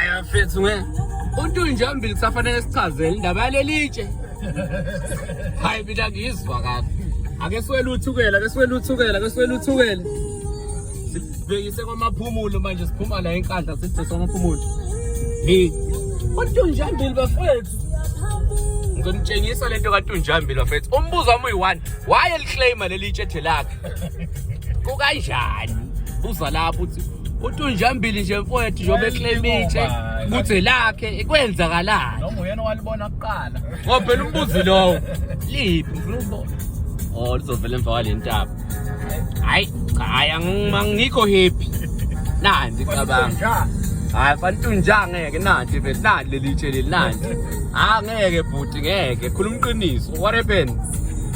ayafethu nge umuntu nje ombili kusafanele sichazele indaba yalelitshe hayi mina ngiyizwa kahle ake siwele uthukela ake siwele uthukela ake siwele uthukela sibhekise kwamaphumulo manje siphuma la enkandla sibhekise kwamaphumulo hey umuntu nje ombili bafethu ngizonitshengisa lento kaTunjambili bafethu umbuzo wami uyi-one why eliclaima leli itshethe lakhe kukanjani buza lapho uthi uthi unjambili nje mfowethu njengoba eclaim itshe ukuthi lakhe kwenzakalani noma uyena walibona kuqala ngoba phela umbuzi lowo liphi ngifuna ukubona oh lizovela emva kwale ntaba hayi cha hayi angikho happy nanzi cabanga hayi fantu nja ngeke nanti vele nanti leli tshe leli nanti ha ngeke bhuti ngeke khuluma iqiniso what happened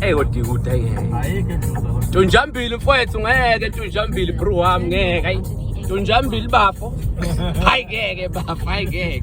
Hey kodwa ikude ngeke. Tunjambili mfowethu ngeke tunjambili bro wami ngeke. Tunjambili bafo. Hayi ngeke bafo hayi ngeke.